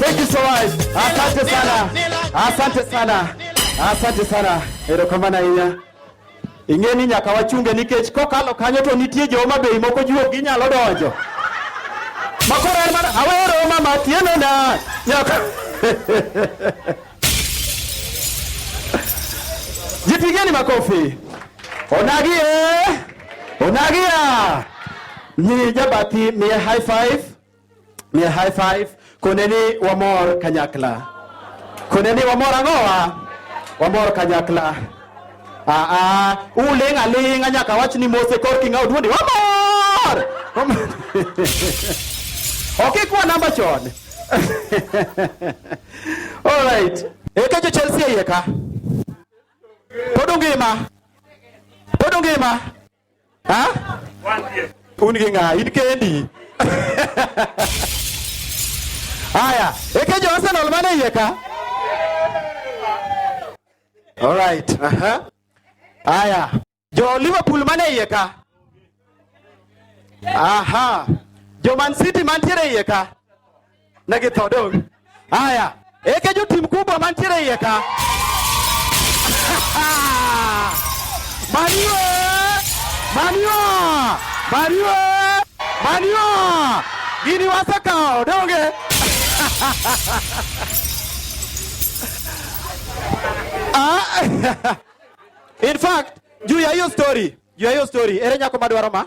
Thank you so much. Asante sana. Asante sana. Asante sana. Erokamana ahinya. Ing'e ni nyaka wachunge nikech kokalo kanyo to nitie joma bei moko juok ginyalo donjo. Makoro en mana awero mama tiene na nyaka. Jipigeni makofi. Onagi eh. Onagi ah. Ni jabati mi high five. May high five. Kuneni wamor kanyakla. Kuneni wamor ang'owa? Wamor kanyakla. Ah ah, uling aling anyaka wach ni mose kor kinga oduondi. Wamor! Wamor. Okay, kwa namba chon. All right. Eka jo Chelsea yeka. Podungima. Podungima. Ha? Un gi ng'a? In kendi. Haya, eke jo Arsenal mane iye ka? All right. Aha. Uh -huh. Haya. Jo Liverpool mane iye ka? Aha. Jo Man City mantiere iye ka? na githodog aya eke jotim kubwa mantiere iye ka manio manio manio manio gini wasekawo donge ah, in fact juu ya hiyo story juu ya hiyo story ere nyako madwaro ma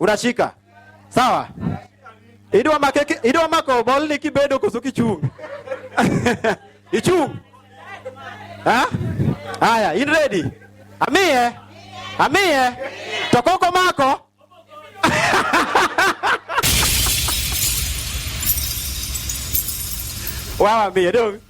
unashika sawa idwa make idwa mako bol ni kibedo koso kichung ichung ha haya in ready amie amie to koko mako wawa mie dong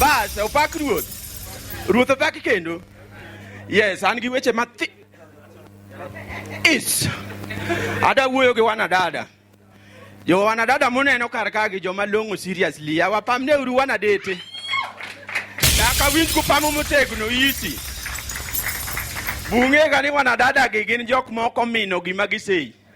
Bas, opak ruoth. Ruoth opak kendo. Yes, an gi weche mathi. Is. Ada wuoyo gi wanadada. Jo wanadada muneno kar ka gi joma long'o seriously. Awapamne uru wanadete. Nyaka winj kupamo motegno isi. Bung'ega ni wanadada gi gin jok moko mino gima giseyi.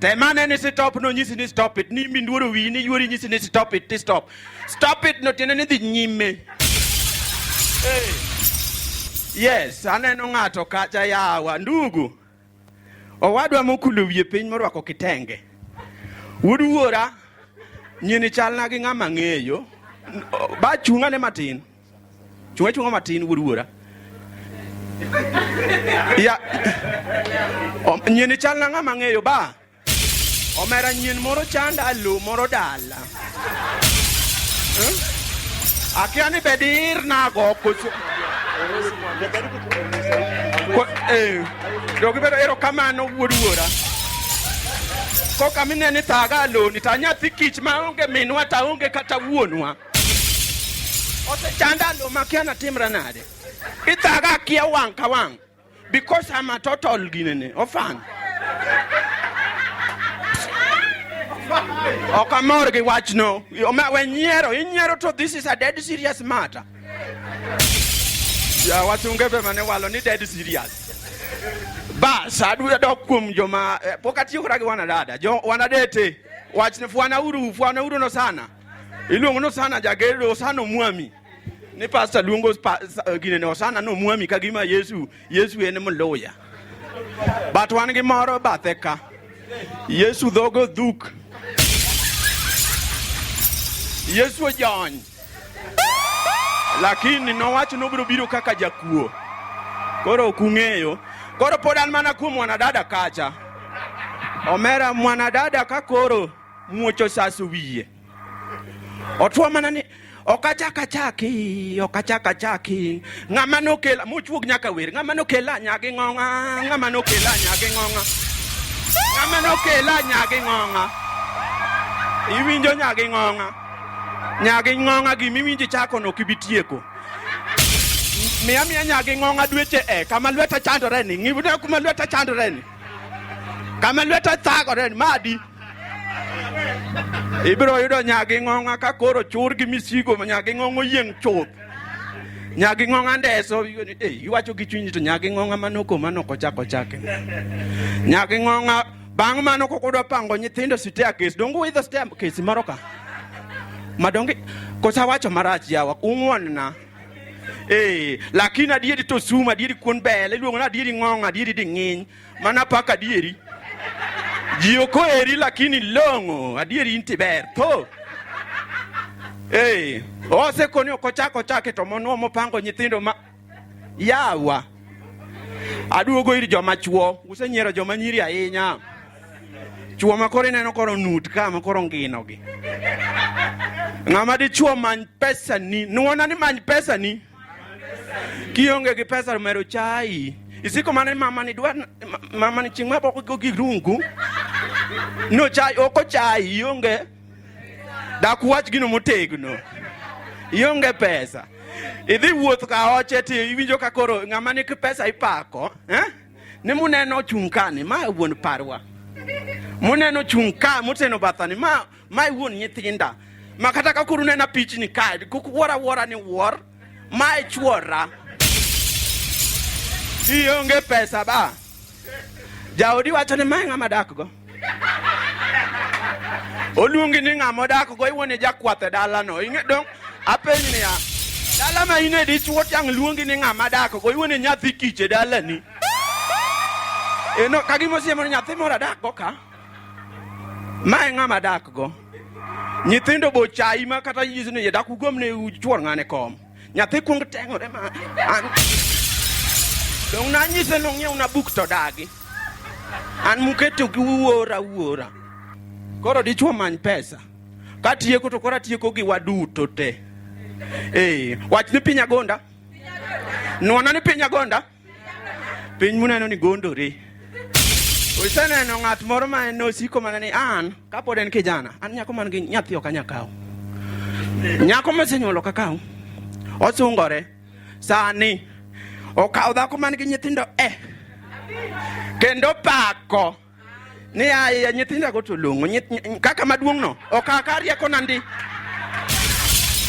Temane ni stop no nyisi ni stop it. Ni mi nduoro wi ni yuori nyisi ni stop it, ti stop. Stop it no tiene ni dhi nyime. Hey. Yes, aneno ng'ato kacha yawa ndugu. Owadwa mokulo wiye piny morwako kitenge. Wuod wuora nyini chalna gi ng'ama ng'eyo. Ba chung'ane matin. Chunga chunga matin wuod wuora. Ya. Om, nyien chal na ng'ama ng'eyo ba. Omera nyien moro chanda lo moro dala. Eh? Akia ni bedir na go koso. Ko eh. Dogi bedo ero kamano wuod wuora. Koka mineni thaga lo ni ta nyathi kich ma onge minwa ta onge kata wuonwa. Osechanda ndo makia na timra nade. Ithaga kia wang ka wang. Because I'm a total ginene. Ofan. Ok amor gi wachno. We nyiero, inyiero to this is a dead serious matter. Ya wasunge be mane walo ni dead serious. Bas, adwa dok kuom joma eh, pok atiyo kata gi wanadada. Jo wanadete. Wachne fwana uru, fwana uru no sana. Iluongo ni Osana Jager, Osana Omwami. Ni pastor luongo pa, eh, gine ni Osana no Omwami ka gima Yesu, Yesu en mluya. But wan gi moro bathe ka. Yesu dhogo dhuk. Yesu ojony. Lakini nowacho nobiro biro kaka jakuo. Koro ok ung'eyo. Koro pod an mana kuom mwanadada kacha. Omera mwanadada ka koro muoch osaso wiye otwo mana ni ok achak achaki ok achak achaki ng'ama nokela mochuog nyaka wer ng'ama nokela nyagi ng'ong'a ng'ama nokela nyagi ng'ong'a ng'ama nokela nyagi ng'ong'a iwinjo nyagi ng'ong'a nyagi ng'ong'a gima iwinjo chako no kibi tieko miya miya nyagi ng'ong'a dweche e kama lweta chandore ni ng'ibna kuma lweta chandore ni kama lweta thagore madi ibiro yudo nyagi ng'ong'a ka koro chur gi misigo nyagi ng'ong'o yieng' chuth nyagi ng'ong'a ndeso eh, iwacho gi chunyi to nyagi ng'ong'a manoko manoko chako chake nyagi ng'ong'a bang' mano kok udwa pango nyithindo sitea kes donge uidho sitea kesi moro ka madonge kosawacho marach yawa ung'wonna Ee, lakini adieri to sum, adieri kuon bel, iluongo ni adieri ng'ong, adieri di ng'iny, mana paka adieri. Ji ok oheri lakini long'o, adieri inti ber, tho. Ee, osekoni ok ochak ochake to monuo mopango nyithindo ma yawa. Aduogo ir joma chuo, usenyiero joma nyiri ahinya. Chuo ma koro ineno koro nut ka ma koro ngino gi. Ng'ama dichuo many pesa ni, nuona ni many pesa ni. Kionge gi pesa mero chai. Isiko mana mama ni dwa mama ni chingma boko go gi rungu. No chai oko chai ionge. Dak wach gino motegno. Ionge pesa. Idhi wuoth ka oche ti iwinjo ka koro ng'ama ni pesa ipako, eh? ni muneno ochung' ka ni ma wuon parwa muneno chung' ka moteno batha ni ma ma wuon nyithinda ma kata ka kuru nena pichni ka kuk wuora wuora ni wuor ma e chuora ionge pesa ba jaodi wacho ni ma ng'ama dakgo oluongi ni ng'ama odak go iwuon ijakwath e dalano ing'e dong apeny niya dala ma in e dichuo tiang' luongi ni ng'ama dak go iwuon inyathi kich e dalani eno ka gima osiemo ni nyathi moro adak go ka ma e ng'ama dak go nyithindo bochayi ma kata yisni yadak ugomne chuor ng'ane kom Nyathi kuong teng'ore ma an dong' nanyise nong'iew na buk to dagi an muketo gi wuora wuora koro dichwo many pesa katieko to koro atieko gi waduto te ee wach ni piny agonda nwana ni piny agonda Piny muneno ni gondore. Useneno ng'at moro ma en osiko mana ni an kapod en kijana, an nyako man gi nyathi ok anya kawo. Nyako mosenyuolo ka kawo. Osungore. Sani okawo dhako man gi nyithindo eh. Kendo pako. ni aye nyithinda go to long'o kaka maduong' no okaka rieko na ndi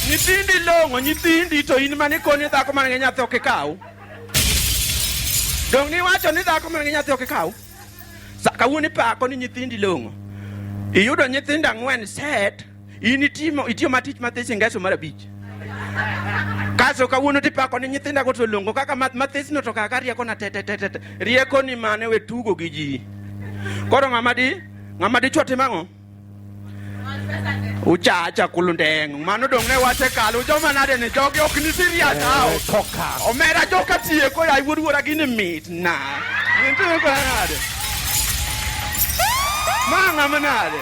nyithindi long'o nyithindi to in mane koni dhako man gi nyathi ok ikaw dong niwacho ni dhako man gi nyathi ok ikaw kawuono ipako ni nyithindi long'o iyudo nyithindo ang'wen set In itimo itiyo matich mathis ingeso mar abich. Kaso kawuono tipako ni nyithinda go to longo kaka mathis no to kaka rieko na tete tete. Rieko ni mane we tugo gi ji. Koro ng'ama di ng'ama di chwati mang'o? uchacha kulundeng mano dong ne wache kalo joma nade ni jogi ok ni serious eh, hao eh, omera joka tieko ya wuod wuora gini mit na nitiyo kwa nade manga manade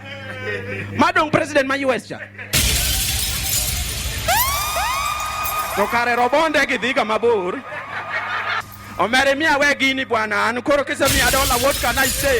ma dong president ma US cha to kare robonde gi dhiga mabor omere miya we gini bwana an koro kisemiya dola what can I say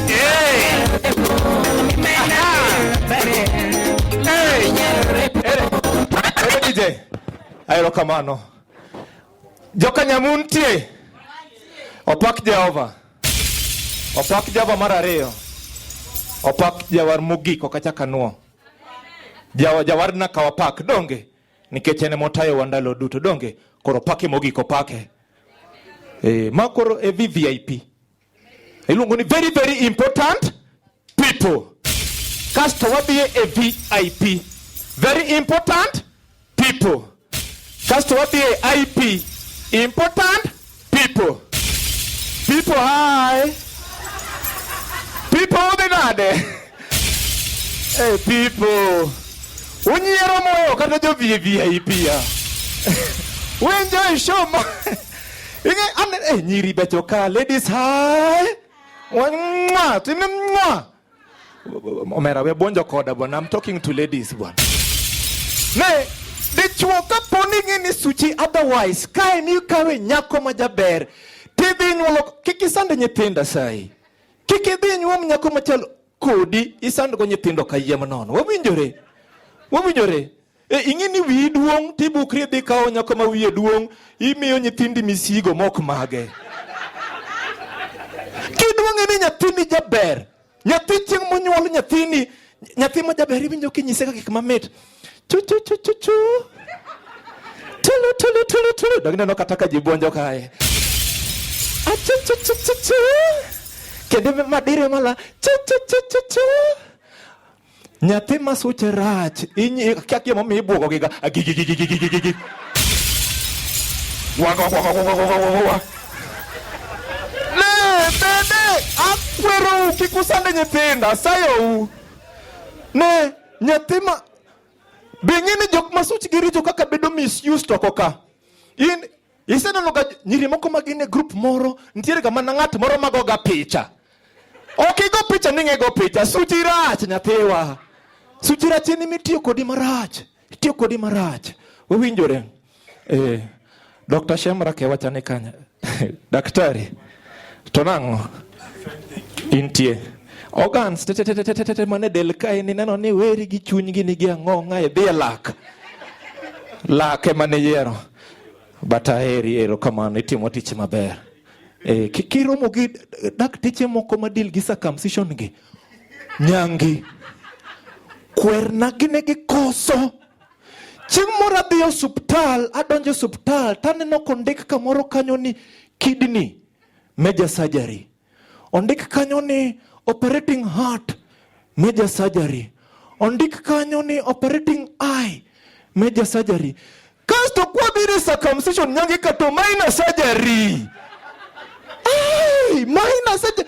Erokamano. Joka Nyamun tie. Opak Jehova. Opak Jehova mar ariyo. Opak Jawar mogik ok achak anuo. Jawa Jawar na kawa pak donge nikech en motayo wandalo duto donge koro pake mogik opake. Eh, ma koro e VIP. Iluongo ni very very important people. Kasto wadhi e VIP. Very important people. Kasto wadhi e IP. Important people. People hi. People udhi nade? Hey people, unyiero moyo kata jo VIP pia. Wenjo show ma. Inge an eh nyiri becho ka ladies hi. Mwa, timi mwa. Omera we bonjo koda bwana, I'm talking to ladies bwana. Ne dichuo ka poni ngini suchi otherwise kae ni kawe nyako majaber. Tidhi nyuolo kikisande nyithinda sai. Kik idhi inyuom nyako machalo kodi isandgo nyithindo kayiem nono. Wawinjore. Wawinjore. E, ing'e ni wiyi duong' tibukri idhi kawo nyako ma wiye duong' imiyo nyithindi misigo mok mage. Kiduong'e ni nyathini jaber. Nyathi chieng' monyuol nyathini nyathi ma jaber iwinjo kinyise ka gik mamit. chuchuchuchuchu tulu tulu tulu tulu dogine nokataka jibwonjo kae achuchuchuchuchu kendo madire mala chuchuchuchuchu nyathi ma suche rach kia kia momiyo ibwogogiga agigigigigigigigi wagwagwagwagwagwagwagwa ne bende akwerou kik usande nyithinda sayou ne Nyathi ma be ng'e ni jok ma suchgi richo kaka bedo misused to oko ka. In iseneno ga nyiri moko ma gin e group moro nitiere ga mana ng'at moro mago ga picha. Ok igo picha ni ng'ego picha suchi rach nyathiwa. Suchi rach en mitiyo kodi marach. Itiyo kodi marach. Wawinjore. Eh, Dr. Shemra kewachane kanya. Daktari. To nang'o? Intie. Organs tetetetetete mane del kae ni neno ni weri gi chunygi nigi ang'o ng'ae dhi e lak. Lak ema ne yiero. But aheri ero kamano itimo tich maber. Eh, ki- kiromo gi dakteche moko ma deal gi circumcision gi. Nyangi. Kwerna gine gi koso. Chieng' moro adhi osuptal, adonjo osuptal to aneno kondik kamoro kanyo ni kidney major surgery. Ondik kanyo ni operating heart major surgery. Ondik kanyo ni operating eye major surgery. Kasto kwabire circumcision nyange kato minor surgery. Ay, minor surgery.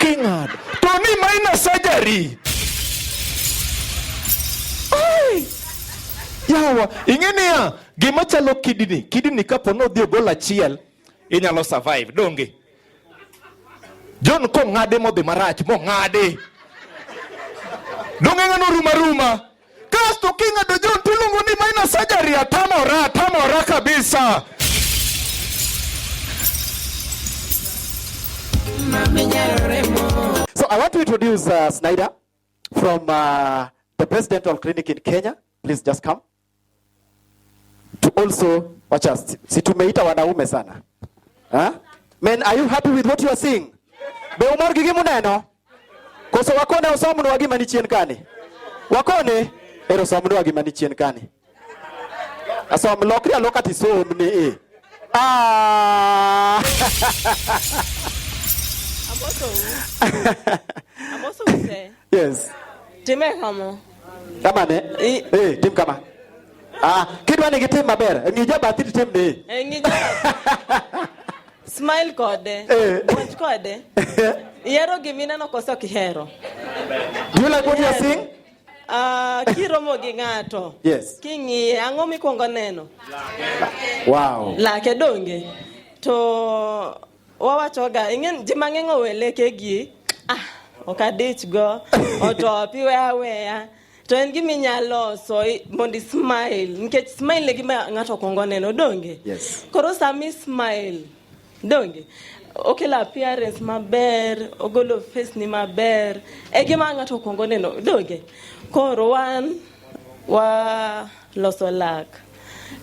King'ad to ni minor surgery. Yawa, ing'e niya, gima chalo kidini, kidini kapo ni odhi ogol achiel, inyalo survive, donge? John kong'ade modhi marach, mong'ade. Donge ng'ano ruma ruma? Kasto king'ado John tiluongo ni minor surgery, atamora, atamora kabisa. So I want to introduce uh, Snyder from uh, the Presidential Clinic in Kenya. Please just come. to also wacha si tumeita wanaume sana ha? Men, are you happy with what you are seeing? Be umor gi gimuneno? Koso wakone osomnwa gima ni chien kani? Wakone ero osomnwa gima ni chien kani. Asom lokri aloka tisom ni e. Ah! I'm also, I'm also Yes. Time kama. Kama ne? Eh, hey, tim kama. Ah, kidwa ni gitim maber. Ng'i jabathi tim ni. Eh, ng'i jabathi. Smile kode. Eh. Watch kode. Ihero gimi neno koso kihero. Do you like what you are seeing? Uh, kiromo gi ng'ato yes. king'iye ang'o mikwongo neno wow. lake donge to Wawachoga ing'en ji mang'eny oweleke gi ah ok adich go otopi we aweya to en gima inyalo loso i- mondo ismile nikech smile e gima ng'ato okwongo neno donge Yes. koro sama ismile donge okelo appearance maber ogolo face ni maber e gima ng'ato okwongo neno donge koro wan wa Loso lak.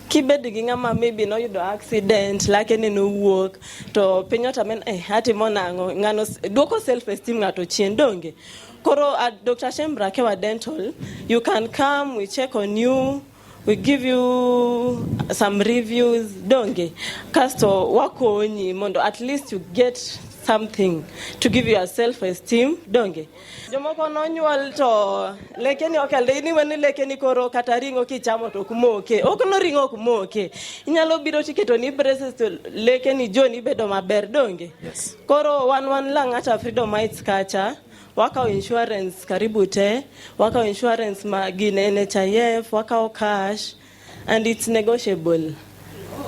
Kibed gi ng'ama maybe noyudo accident, lake ne nowuok, to piny otame eh, atimo nang'o? Ng'ano duoko self esteem ng'ato chien donge? Koro at uh, Dr. Shembra Kewa Dental, you can come, we check on you, we give you some reviews donge kasto wakonyi mondo at least you get something to give you a self esteem donge Jomoko nonyuol to lekeni ok alde ni wani lekeni koro kata ringo kichamo to ok moke. Ok no ringo ok moke. Inyalo biro tiketo ni braces to lekeni joni bedo maber donge. Yes. Koro wan wan Lang'ata Freedom Heights kacha wakawo insurance karibu te, wakawo insurance ma gin NHIF, wakawo cash And it's negotiable.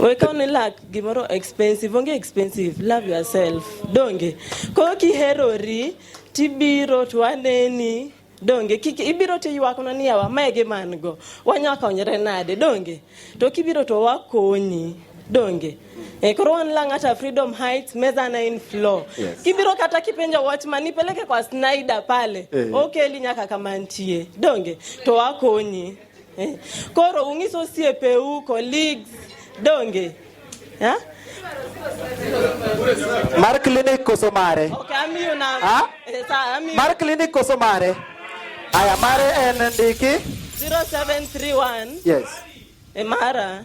We ka ni lack gimoro expensive, onge expensive, love yourself. Donge. Ko ki herori tibiro to aneni donge kik ibiro to ywakna ni yawa mae gi man go wanya konyre nade donge to kibiro to wakonyi donge e koro wan lang hata freedom heights meza na in floor yes. kibiro kata kipenja watchman nipeleke kwa snyder pale eh. okeli nyaka kamantie donge to wakonyi Eh, koro ung'iso osiepe u colleagues donge ha? Mar clinic koso mare? Okay, amiyo na. Ha? Eh, sa, amiyo. Mar clinic koso mare? Aya, mare en ndiki? 0731. Yes. E mara.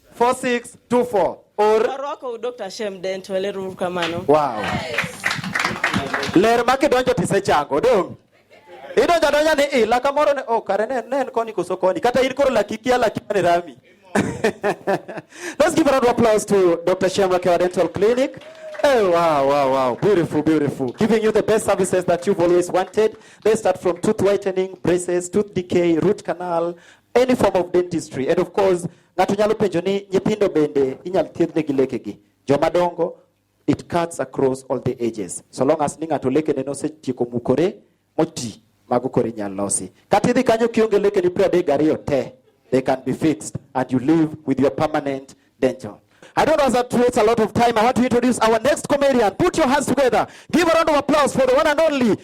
4624 or Arwako Dr. Shem Dent wele ruru kamano. wow. Ler ma kidonjo tisechango dong. Idonjo adonja ni ila kamoro ne oh kare ne ne en koni koso koni kata in koro laki kia laki mane rami. Let's give a round of applause to Dr. Shem Rakewa Dental Clinic. Oh, wow, wow, wow. Beautiful, beautiful. Giving you the best services that you've always wanted. They start from tooth whitening, braces, tooth decay, root canal, any form of dentistry. And of course, Ng'ato nyalo penjo ni nyithindo bende inyal thiedhne gi lekegi. Joma dongo it cuts across all the ages. So long as ni ng'ato lekene nosetieko mukore moti mago koro inyal losi. Kata idhi kanyo kionge lekeni piero adek gariyo te they can be fixed and you live with your permanent danger. I don't want to waste a lot of time. I want to introduce our next comedian. Put your hands together. Give a round of applause for the one and only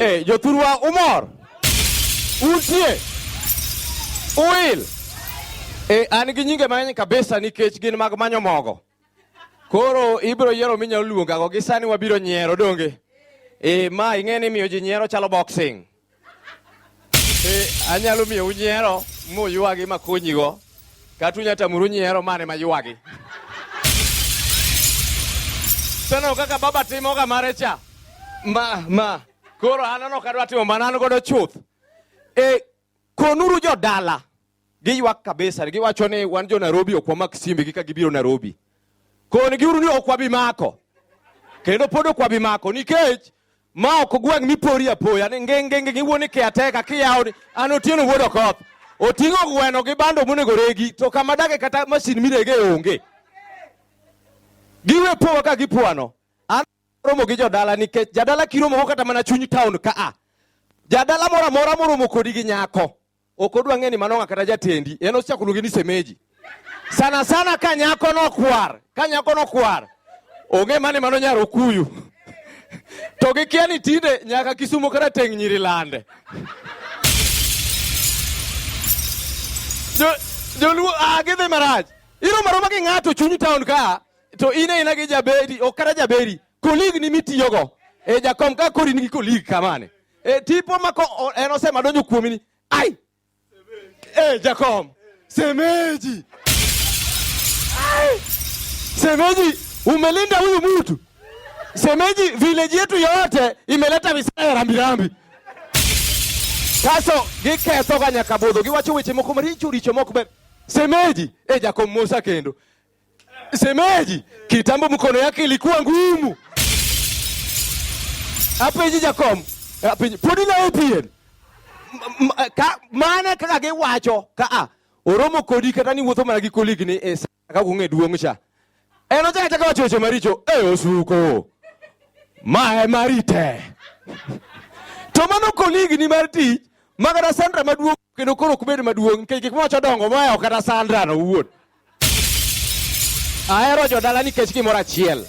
Eh, Jothurwa umor? Untie? Uil? Eh, an gi nyinge mang'eny kabisa nikech gin mag manyo mogo. Koro ibiro yiero minyalo luongago gi sani wabiro nyiero donge? Eh, ma ing'e ni miyo ji nyiero chalo boxing. Eh, anyalo miyo unyiero muywagi makonyigo kata unyalo tamuru nyiero mane maywagi seno kaka baba timoga mare cha ma ma koro anano kadwa timo mana an godo chuth e konuru jodala Giywak kabisa, giwacho ni wan jo Nairobi ok wamak simbe gi ka gibiro Nairobi. Kon giuru ni ok wabi mako. Kendo pod ok wabi mako nikech ma ok gweng' mipori apoya ni ngenge ngenge wuo ni kiateka kiyawo ni an otieno wuod okoth. Oting'o gweno gi bando monego regi to kama dage kata masin mirege onge. Giwe powa ka gipwano. An romo gi jodala nikech jadala kiromo kata mana chuny town ka a. Jadala moro amora moromo kodi gi nyako. Ok odwa ng'e ni mano ng'a kata jatendi, en osechako luonge ni semeji. Sana sana ka nyako nokwar, ka nyako nokwar, ong'e mani mano nyar Okuyu. To gikia ni tinde nyaka Kisumo kata teng' nyiri lande. Jo- Joluo, ah, gidhi marach. Iroma roma gi ng'ato chuny town ka, to in aina gi jaberi, ok kata jaberi, colleague ni mitiyogo. E jakom ka kori nigi colleague kamane. E, tipo mako en osema donjo kuomi ni ai e, Jakom semeji ai, semeji umelinda huyu mtu semeji, village yetu yote imeleta visaya ya rambirambi kaso giketho ga nyaka budho giwacho weche moko maricho richo moko ber semeji e, Jakom Musa kendo Semeji kitambo mkono yake ilikuwa ngumu. Hapa hizi jakom. Hapa hizi podi na APN. Ka mana kaka ge wacho ka a. Oromo kodi kata ni wuotho mana gi koligi ni esa eh, ka kunge duong' cha. Eno eh, chaka chaka wacho weche maricho. Eh osuko. Mae marite. To mano koligi ni mar tich. Magara Sandra maduong' kendo koro kubed maduong' nikech gik mwacho dongo moa kata Sandra no wuon. Ahero jodala nikech gimoro achiel.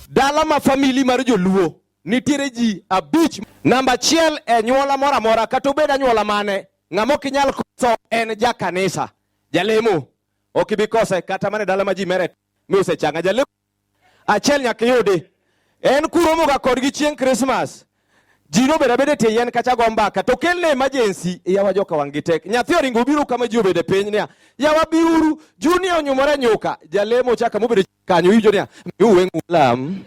Dala ma famili mar joluo nitiere ji abich. Namba achiel e nyuola moro amora kata obed anyuola mane, ng'ama ok inyal koso en ja kanisa, jalemo. Ok ibi kose kata mana e dala ma ji mere mi osechanga jalemo. achiel nyaka iyudi en kuromoga kodgi chieng' krismas ji nobed abeda e tie yien kacha go mbaka to kelne emergency yawa joka wang' gi tek nyathi oringo obiro kama ji obede piny niya yawa biuru junia onyumore nyuka jalemo chaka mobede kanyo iwinjo niya miuwe ng'ulam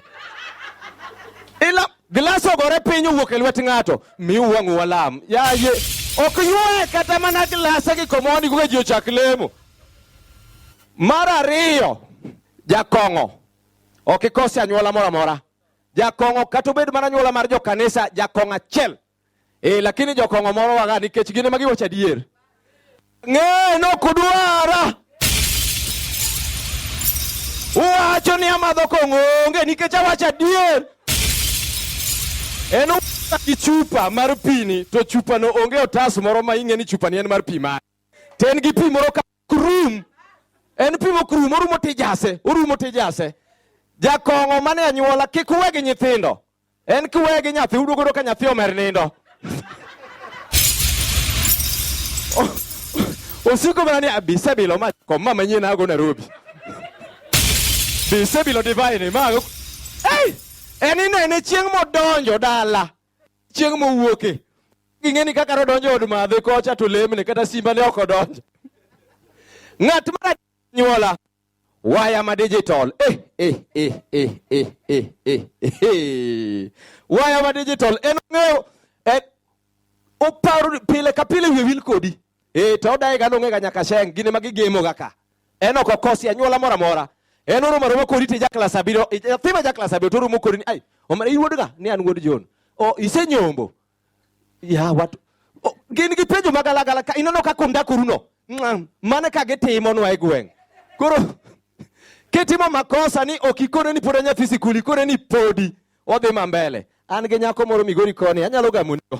ila glas ogore piny owuok e lwet ng'ato miuwe ng'ulam yaye ok yuaye kata mana glasa gi komoni kuka ji ochak lemo mar ariyo Jakong'o ok ikose anyuola moro amora. Jakong'o kata obed mana anyuola mar jokanisa, jakong'o achiel e, lakini jokong'o moro waga nikech gin ema giwacho adier. Ng'e nokudwara uwacho ni amadho kong'o onge nikech awacho adier en gi chupa mar pini to chupano onge otas moro ma ing'e ni chupani en mar pi mane ten gi pi moro ka Krum en pimo krum, orumo tijase, orumo tijase. Jakong'o mane anyuola kik uwe gi nyithindo, en kiwe gi nyathi uduogodo ka nyathi omer nindo osiko mana ni abisebilo ma kom ma manyien ago Nairobi bisebilo divine ma hey! en inene chieng' modonjo dala chieng' mowuoke ging'e ni kaka nodonjo od madhe kocha to lemne kata simba ne ok odonjo ng'at mar nyuola waya ma digital eh, eh, eh, eh, eh, eh, eh, eh. waya ma digital en ong'eyo eh, oparo pile ka pile wiye wil kodi Ee, to odaye ga nong'ega nyaka sheng' gine ma gigemo ga ka. En ok okosi anyuola mora mora. En oro maroma kodi ti jakla sabiro, thima jakla sabiro to oromo kodi ni ai, omara iwuod ga ni an wuod John. O isenyombo. Ya wat o, gin gi penjo magala gala ka inono ka kunda kuruno. Mane ka gitimo nwa e gweng'. Koro kitimo makosa ni ok ikone ni pod anyathi sikuli, ikone ni podi. Wadhi ma mbele. An gi nyako moro Migori koni, anyalo gamunigo.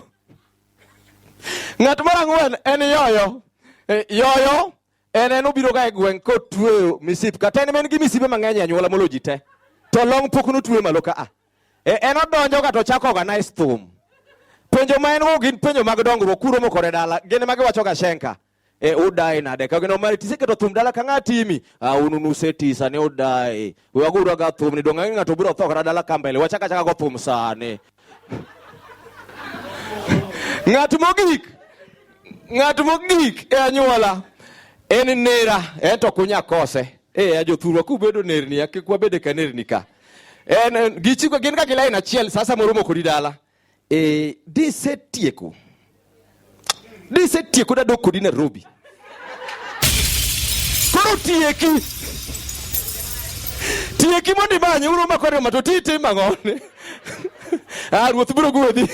Ng'at mar ang'wen en yoyo. E, yoyo en en obiro ga e gweng' kotweyo misip kata en en gi misipe mang'eny e anyuola molo ji te. To long pok notwe malo ka a. E, en odonjo ga to chako organize thum. Penjo ma en go gin penjo mag dongruok kuro mokore dala. Gin ma giwacho ga shenka. e eh, udae nade ka gino mari tise keto thum dala ka ng'a timi a ah, unu nuse tisa ne udae we wagura ga thum ni donga ng'a to biro tho kata dala ka mbele wachaka chaka go thum sane ng'at mogik ng'at mogik e anyuola en nera en to kunya kose e eh, a jothurwa kubedo nerni akikwa bede ka nerni ka en gichiko gin ka gilain achiel sasa moromo kodi dala E, disetieko disetieko dadok kodi Nairobi koro tieki tieki mondo imanye uro makwariyo mato titim ang'one ah, ruoth biro gwedhi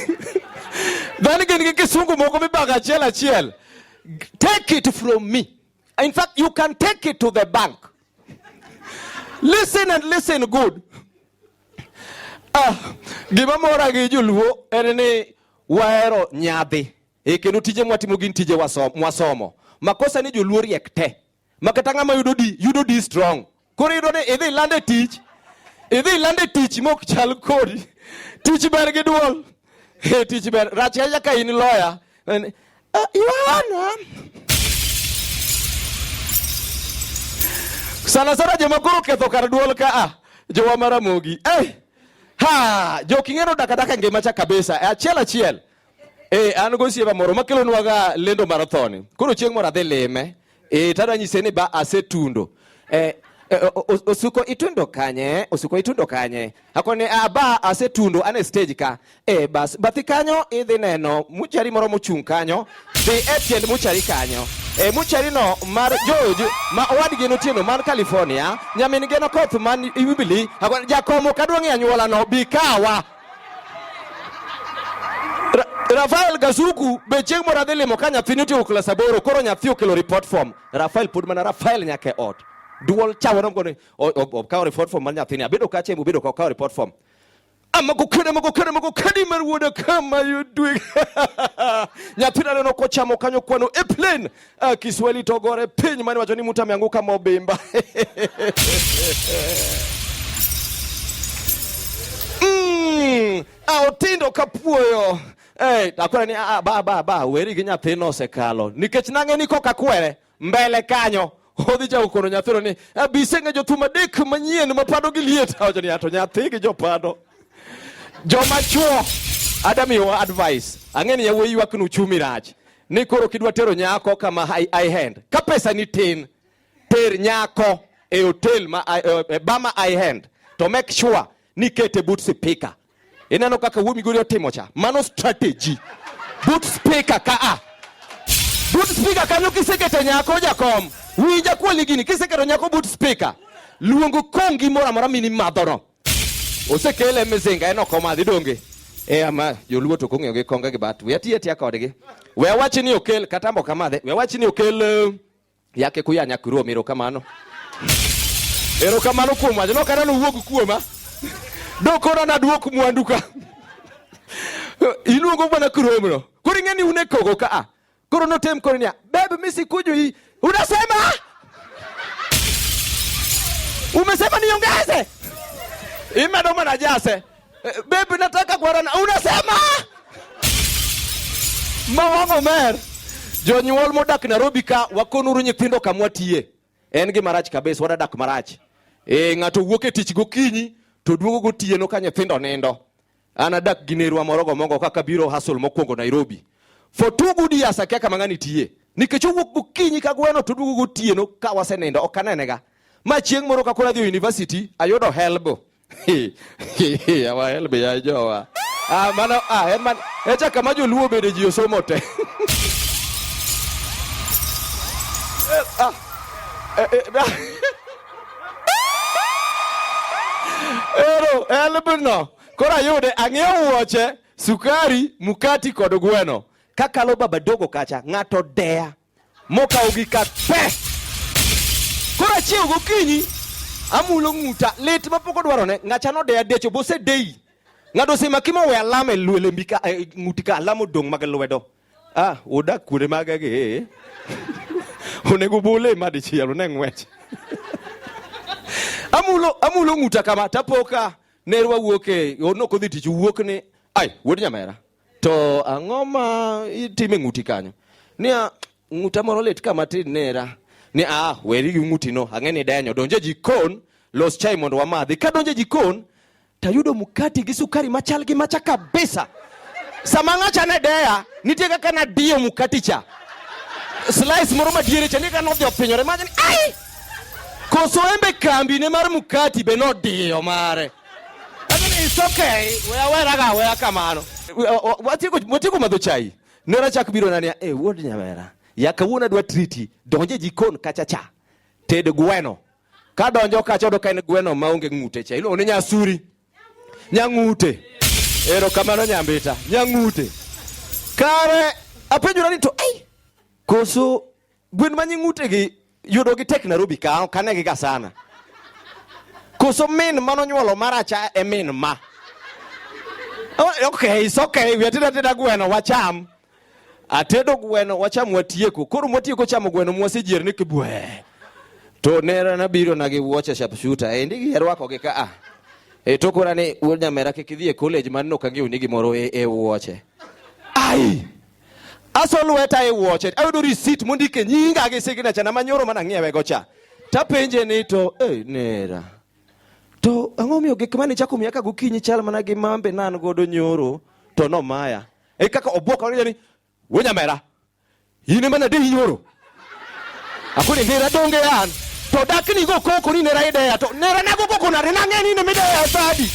dhani gin gi kisungu moko mibago achiel achiel take it from me In fact, you can take it to the bank. Listen and listen good. Ah, gima mora gi joluo en ni wahero nyadhi. E kendo tije mwatimo gin tije mwasomo. Makosa ni joluo riek te. Makata ng'ama yudo di, yudo di strong. Koro iyudo ni idhi ilande tich, idhi ilande tich mok chal kodi. Tich ber gi duol. Hey, tich ber. Rach ahinya ka in lawyer. Uh, you are Sana sana joma koro ketho kar duol ka a jowa maramogi. Eh. Hey. Ha, jo king'eno dakadaka ngima cha kabisa. E achiel achiel. Eh, an go sieba moro makelonwaga lendo marathoni. Koro chieng' moro adhi lime. e tara nyise ni ba asetundo e, e osuko itundo kanye osuko itundo kanye akoni aba ah, asetundo ane stage ka e bas bathi kanyo idhi neno muchari moro mochung' kanyo dhi e tiend muchari kanyo e muchari no mar George ma owadgi notieno man California nyamin geno koth man Ibili jakomo kaduong' e anyuola no bikawa Rafael Gazuku be chieng' moro adhi limo ka nyathini otieko klas aboro koro nyathi okelo report form Rafael pod mana Rafael nyaka e ot duol chawo nom koni okawo report form mar nyathini abedo ka chembo bedo ka okawo report form amako kede mako kede mako kedi mar wuoda kama yudwe nyathina neno kochamo kanyo kwano e plane Ah, Kiswahili togore piny mani wacho ni mtu ameanguka mobimba. mm, aotindo ah, kapuoyo. Hey, eh, akwere ni ah, ba ba ba weri gi nyathino osekalo. Nikech nang'e ni koka kwere mbele kanyo. Odhi cha ukono nyathino ni abise nge jothum adek manyien mapado gi liet. Awacho ni ato nyathi gi jopado. Joma chuo. Adam your advice. Ang'e ni yawuoyi ywak ni uchumi rach. ni koro kidwa tero nyako kama I hand ka pesa ni tin, ter nyako e hotel ma e, e bama I hand to make sure ni kete but speaker. Ineno kaka wuo Migori otimo cha, mano strategy but speaker ka a but speaker kanyo kisekete nyako jakom winja kwali gini kiseketo nyako but speaker luongo kongi moro amora mini madhono osekele mizinga en ok omadhi donge e ama joluo to kong'eyo gi konga gi bat we atiya tiya kodgi we awachi ni okel kata mbo kamadhe we awachi ni okel eh, yake kuya nyakuro miro kamano ero kamano kuom wacho no kata nowuog kuoma dokona naduok mwandu ka iluongo mana kuromno koro ing'e ni un e kogo ka a Kuruno tem kurunia. Baby mimi sikujui. Unasema? Umesema niongeze? Imedomo na jase. Eh, baby nataka kuarana. Unasema? Mawango mer. Jonyuol modak Nairobi ka wakonuru nyithindo kamwa tiye. En gi marach kabisa wadadak marach. Eh, ng'ato wuok e tich gokinyi to duogo gotieno ka nyithindo nindo. anadak gi nerwa moro gomongo kaka biro hasol mokwongo Nairobi for two good years akia kama ng'ani tiye nikech owuok gokinyi ka gweno to duogo gotieno ka wasenindo ok anenega ma chieng' moro ka koro adhi university ayudo helb awa helb ya jowa ah, mano ah, en man echa kama joluo bede ji osomo te ah, eh, eh, ah. Ero, elbno. Koro ayude, ang'iewo wuoche, sukari, mukati kod gweno. Kakalo baba dogo kacha, ng'ato deya. Mokawo gi ka pe. Koro achiewo gokinyi, amulo ng'uta, lit mapok odwarone, ng'acha nodeya decho, bosedeyi. Ng'ato osemaki mowe alama e lwele mbika, e, ng'uti ka alama odong' mag lwedo. Ah, udak kuonde maga gi ee. Onego ubule ma dichiel one ng'wech. Amulo amulo ng'uta kama tapoka nerwa wuok e ono kodhi tich wuok ni ai wuod nyamera. To ang'o ma itime ng'uti kanyo? Nia ng'uta moro lit kama tin nera. Ni ah weri gi ng'utino ang'e ni denyo donje jikon los chai mondo wamadhi. Ka donje jikon tayudo mkati gi sukari machal gi macha kabisa. Sama ng'acha ne deya, nitie kaka nadiyo mkati cha slice moro madiere cha nika nodhi opinyore machni ai koso embe kambi ne mar mkati be nodiyo mare lakini it's okay weya weraga weya kamano watieko madho chai nera chak biro nania e eh, wuod nyamera ya kawuono adwa triti donje jikon kacha cha ted gweno Ka donjo kacha odo ka en gweno ma onge ng'ute cha. Iluongo ni nyasuri. Nyang'ute. Ero kamano nyambita. Nyang'ute. Kare apenjora ni to ai koso gwen ma nying'ute gi yudo gi tek Nairobi ka kane gi ga sana. Koso min mano nyuolo maracha e min ma. Oh, okay, it's okay. We are tida tida gweno wacham. Atedo gweno wacham watieko. Koro mwatieko chamo gweno mwasejier ni kibwe. To nera nabiro na gi wuoche sharpshooter. E ndigi yarwako gi ka a. E to kora ni wuod nyamera kik idhi e college man no kang'eyo ni gimoro e, e wuoche. Ai. Aso lweta e wuoche. Ayudo receipt mondike nyinga gi signature na manyoro mana ng'iewe go cha. Tapenje ni to eh nera. To ang'o miyo gik mane chako miya ka gokinyi chal mana gi mambe nan godo nyoro to nomaya. e kaka obwok owacho ni we nyamera in ema nade inyoro akoni nera donge an to dak ni go koko ni nera ideya to nera nago koko nade nang'e ni nemideya sadi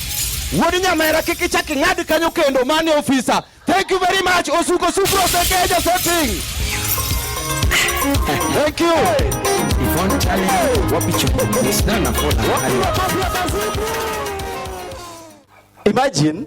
wuod nyamera kik ichak ing'ad kanyo kendo mane ofisa thank you very much osuko supro sekeja setting thank you Yvonne Chale, wapi chupa? It's not a follow. Imagine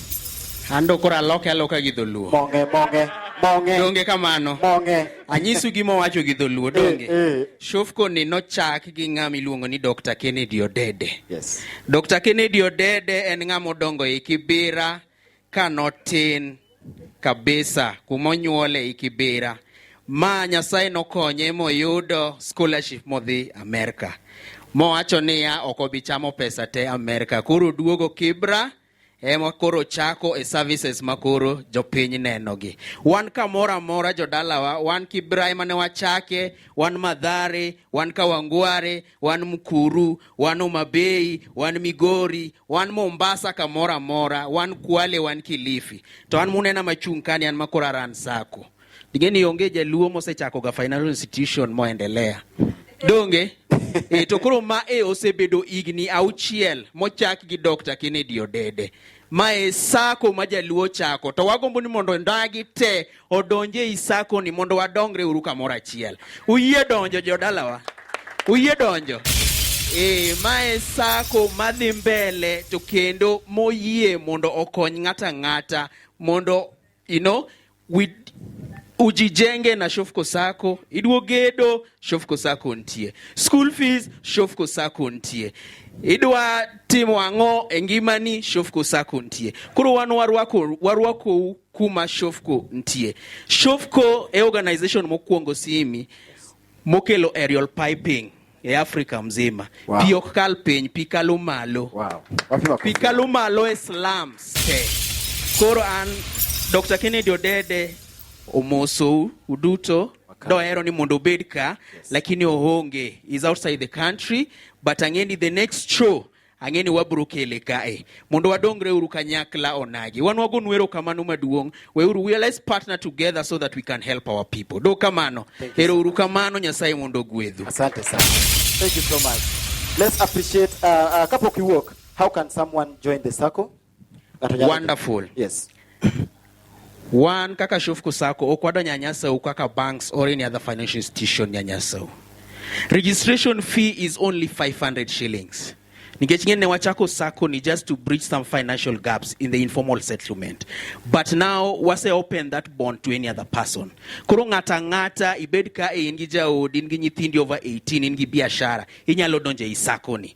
Ando koro aloke aloka gi dholuo. Monge monge monge. Donge kamano. Monge. Anyisu gima owacho gi dholuo eh, donge. Eh, eh. Shofko ni nochak gi ng'ama iluongo ni Dr. Kennedy Odede. Yes. Dr. Kennedy Odede en ng'ama odongo e Kibira ka notin kabisa kuma onyuole e Kibira. Ma Nyasaye nokonye moyudo scholarship modhi Amerika. Mowacho niya ok obi chamo pesa te Amerika. Koro duogo Kibra. ema koro chako e services ma koro jopiny nenogi. Wan kamoro amora jodalawa, wan Kibra ema ne wachake, wan Madhare, wan Kawangware, wan Mkuru, wan Omabei, wan Migori, wan Mombasa kamoro amora, wan Kwale, wan Kilifi. To an munena machung' kani an makoro aran sako. Digeni onge jaluo mosechako ga financial institution moendelea. Donge? e, to koro ma e osebedo higni auchiel mochak gi Dr. Kennedy Odede. Ma e sako ma jaluo chako to wagombo ni mondo ndagi te odonje e sako ni mondo wadongre uru kamoro achiel. Uyie donjo jodalawa? Uyie donjo? E, ma e sako madhi mbele to kendo moyie mondo okony ng'ata ng'ata mondo You know, we ujijenge na Shofco Sacco, idwo gedo Shofco Sacco ntie, school fees Shofco Sacco ntie, idwa timo ang'o e ngimani Shofco Sacco ntie. Koro wan warwako warwakou kuma Shofco ntie. Shofco e organization mokwongo simi mokelo aerial piping e Afrika mzima. Wow. Pi ok kal piny, pi kalo malo. Wow. Pi kalo malo e slums te. Koro an Dr. Kennedy Odede omosou uduto dohero ni mondo obed ka yes. Lakini ohonge is outside the country but ang'e ni the next show ang'e ni wabiro kele kae mondo wadongre uru kanyakla onagi wan wago nwero kamano maduong' weuru we let's partner together so that we can help our people do kamano hero uru kamano nyasaye mondo ogwedhu asante sana thank you so much let's appreciate uh, uh, kapok iwuok how can someone join the circle Wonderful. Yes. One, kaka shufku sako, okwado nyanyasa u kaka banks or any other financial institution nyanyasa u. Registration fee is only 500 shillings. Nikech ngene wachako sako ni just to bridge some financial gaps in the informal settlement. But now wase open that bond to any other person. Koro ng'ata ng'ata ibed ka in gi jaodi, in gi nyithindi over 18, in gi biashara, inyalo donje isako ni.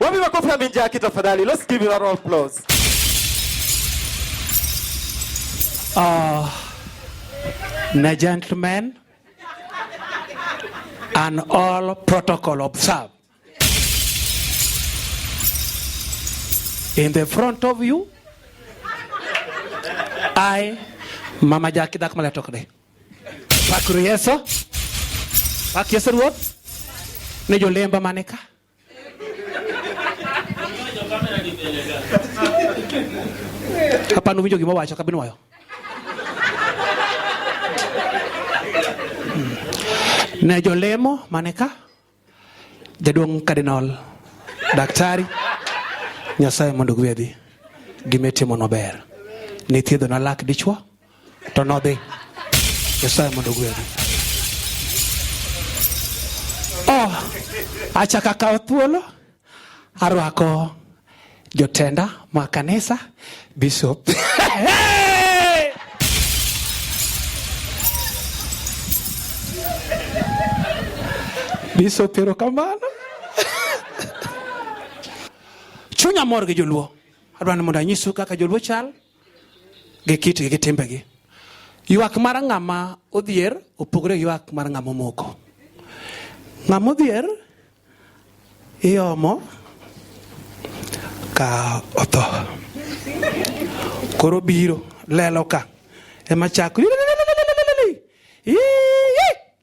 Wapi makofi ya Minjaki tafadhali? Let's give him a round of applause. Uh, na gentlemen and all protocol observed. In the front of you, I, Mama Jackie Dakmala Tokde. Pakuru Yeso, Pak Yeso Ruot, Nejo Lemba Maneka. Kapag umiyo, gimawa siya, kabinuwa yun. Hmm. Nejo Lemo, maneka, jaduong Cardinal, daktari, nyasaye mondo gwedhi, gimetimo maber. Nithiedho na lak dichwo, To nodhi. Nyasaye mondo ogwedhi. Oh, achaka kawo thuolo arwako jotenda ma kanisa bishop bishop erokamano chunya mor gi joluo adwani mondo anyisu kaka joluo chal gi kitgi gi timbegi. Ywak mar ng'ama odhier opogore gi ywak mar ng'ama omoko. Ng'ama odhier iomo ka otho. Koro biro lelo ka ema chako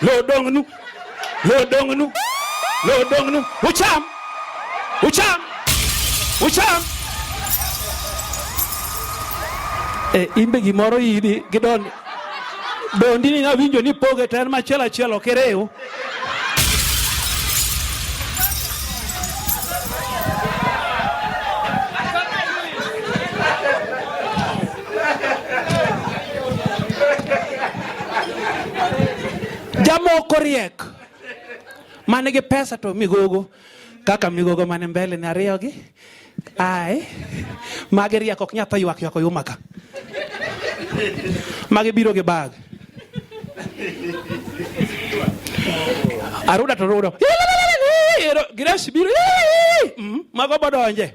Loo dong nu. Loo dong nu. Loo dong nu. Ucham. Ucham. Ucham. Eh, imbe gimoro idi gidon dondi ni nawinjo ni poge to en machiel achiel ok iriw Jamoko riek mane gi pesa to migogo kaka migogo mane mbele ni ariyo gi ai magi riek ok nyath ywak ywak oyuma ka magi biro gi bag aruda to rudo Grace biro mm, mago bodonje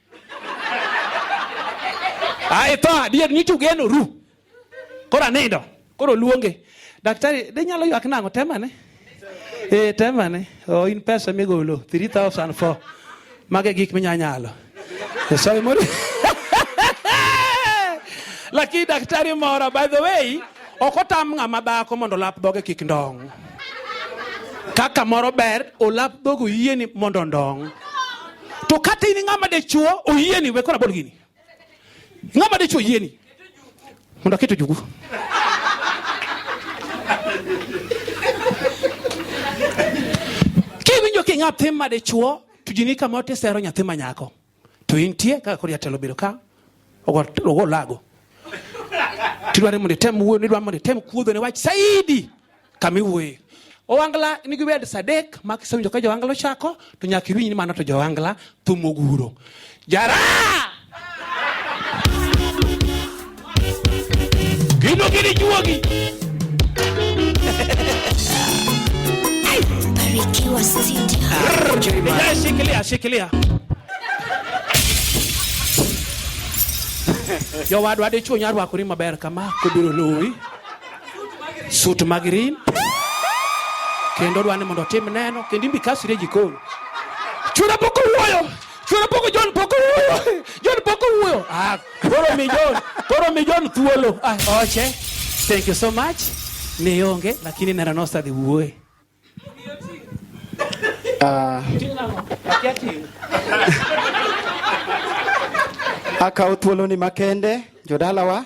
Ae tho adier nyicho geno ru. Koro anindo. Koro luonge. Daktari, de nyalo ywak nang'o temane? Eh, temane. Oh, in pesa migolo 3004. Mage gik minya nyalo. Eh, Sorry, mori. Lakini daktari mora by the way, ok otam ng'ama dhako mondo lap dhoge kik ndong'. Kaka moro ber, olap dhogo yieni mondo ndong'. To kata in ng'ama dichuo oyieni we kora bol gini. Ng'ama dichuo oyieni. Mondo aketo jugu. Kiwinjo ki nyathi ma dichuo to jini kama otisero nyathi ma nyako. To intie kaka kori atelo biro ka. Ogo ogo lago. Tidware mondo item wuoyo, idware mondo item kuodho ne wach saidi. kama iwuoye owangla nigi wed sadek ma kisewinjo ka jowangla ochako to nyaka iwinj ni mano to jowangla thum oguro jara gino gini juogi Barikiwa Studio. Yes, shikilia shikilia jowadwa dichuo nyarwakori maber kama kobiro luwi sut mag rim kendo dwani mondo otim neno kendo imbi kasire jikoni chura pok owuoyo chura pok John pok owuoyo John pok owuoyo ah koro mi John koro mi John thuolo ah oche thank you so much ne onge lakini neno nosa dhi wuoye ah akawo thuoloni makende jodalawa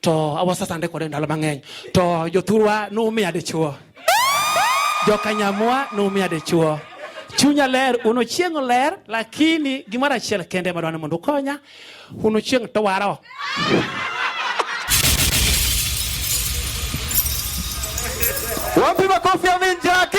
to awasasande kode ndalo mang'eny to jothurwa numiya dichuo jokanyamwa numiya dichuo chunya ler uno chieng' oler lakini gimoro achiel kende madwani mondo ukonya uno chieng' to waro wapi makofi ya minjaki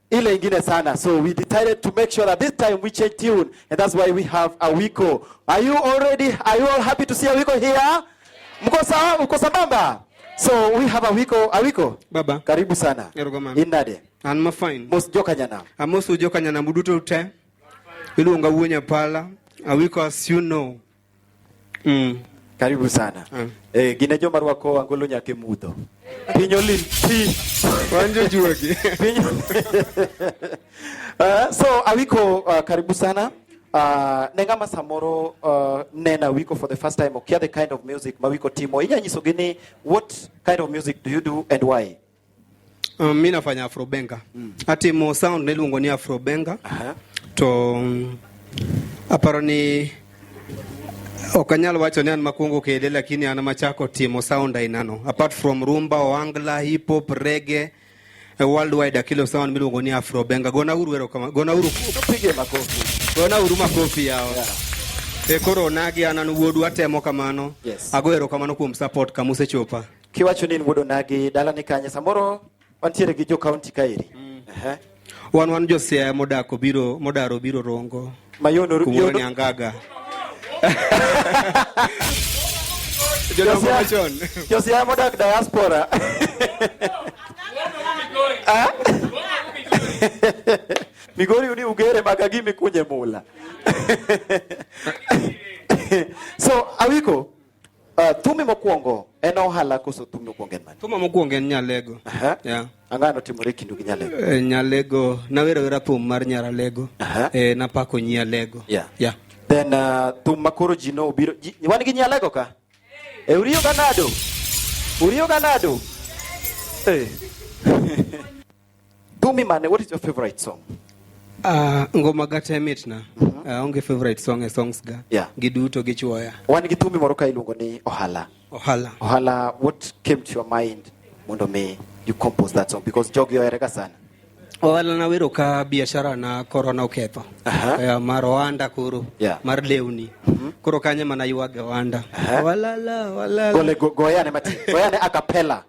ile ingine sana. So we decided to make sure that this time we change tune and that's why we have a wiko. Are you already, are you all happy to see a wiko here? Yeah. Mko sawa, uko sambamba? Yeah. So we have a wiko, a wiko. Baba. Karibu sana. Erugama. Inade. And my fine. Most jokanyana. Amosu jokanyana muduto ute. Ilu unga uwenya pala. A wiko as you know. Mm. Karibu sana. Mm. Eh, gine joma rwako angolo nyake mudho. Pinyo lin pi. Wanjo juogi. Pinyo. uh, so awiko uh, karibu sana. Uh, ne ng'ama samoro uh, nena wiko for the first time okia the kind of music ma wiko timo inya nyisogi ni what kind of music do you do and why Um, mi nafanya afrobenga mm. ati mo sound niluongo ni afrobenga uh -huh. to um, aparo ni ok anyal wacho ni an makwongo kede lakini an machako timo sound ainano apart from rumba oangla hip hop rege a worldwide akilo sound miluongo ni afrobenga gona uru ero kama gona uru pige makofi gona uru makofi yao yeah. e koro nagi anan wuodu atemo kamano yes. ago ero kamano kuom support kamusechopa Kiwacho ni in wuod onagi dala ni kanye samoro wantiere gi jo county kaeri. Mm. Ehe. Wan wan jo Siaya modako biro modaro biro rongo. Mayono kumoro ni angaga. Jo Siaya modak diaspora. Ah? Migori uni ugere maka gimi kunye mula. so awiko Uh, thumi mokwongo en ohala koso thumi mokwongo en mane? Thuma mokwongo en Nyalego. Aha. Yeah. Ang'o notimore e kindu gi Nyalego? Eh, Nyalego nawero wera thum mar Nyaralego. Aha. Eh, napako nyi Alego. Yeah. Yeah. Then uh, thum ma koro ji no obiro ji, wan gi Nyalego ka? E uriyo ga nado? Uriyo ga nado? Eh. Dumi Mane, what is your favorite song? Uh, ngoma ga te mitna mm -hmm. uh, ah, onge favorite song e songs ga yeah. giduto gichuoya wan gi thumi moro ka iluongo ni ohala ohala ohala what came to your mind mondo mi you compose that song because jogi oherega sana ohala na wero ka biashara na korona oketho uh -huh. uh, eh, mar oanda koro yeah. mar lewni mm -hmm. koro kanye mana ywage oanda uh -huh. walala walala gole go, goyane mati goyane akapela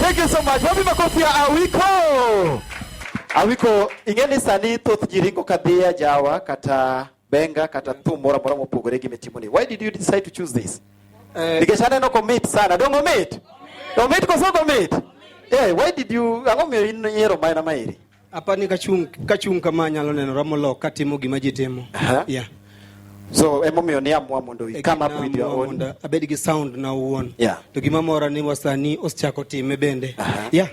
Thank you so much. Wapi makofi ya Awiko? Awiko ing'e ni sani thoth ji ringo kadhiya jawa kata benga kata thum moro amora mopogore gi mitimoni. Why did you decide to choose this? Eh, Nikech aneno komit sana. Donge omit? Omit koso ok omit? Eh, why did you ang'o miyo in nyiero mana maeri? apa ni kachung' kachung' kama anyalo nenora molok katimo gima ji timo Aha. yeah. So emomiyo ni amua mondo you come up with your Naamua own. mondo abed gi sound na owuon Yeah. to gima mora ni wasani osechako time bende Aha. yeah.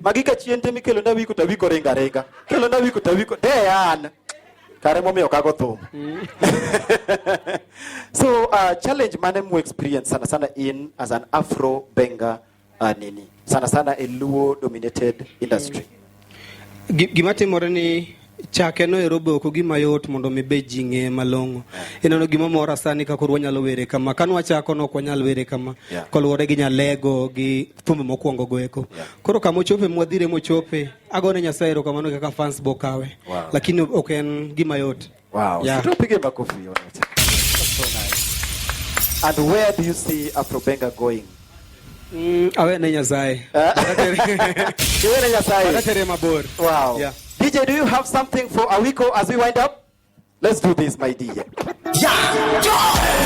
Magi ka chien te mikelo na wiko tawiko ringa ringa. Kelo na wiko tawiko dean. Kare momiyo kago thum. Mm. so uh, challenge mane mu experience sana sana in as an Afro Benga uh, nini sana sana a Luo dominated industry. Mm. Gima timore ni chake no ero be ok ogima yot mondo mi be ji ng'e malong'o eh. ineno gima mora sani ka koro wanyalo were kama ka nwachako no ok wanyal were kama yeah. koluwore gi nyalego gi thumbe mokwongo go eko yeah. koro kama ochope mwadhire mochope agone nyasaye ero kamano kaka fans bokawe wow. lakini ok en gima yot wow. yeah. and where do you see afrobenga going Mm, awe ne Nyasaye. Eh? Iwe ne Nyasaye. Watatere mabor. Wow. Yeah. DJ, do you have something for Awiko as we wind up? Let's do this, my DJ. Yeah.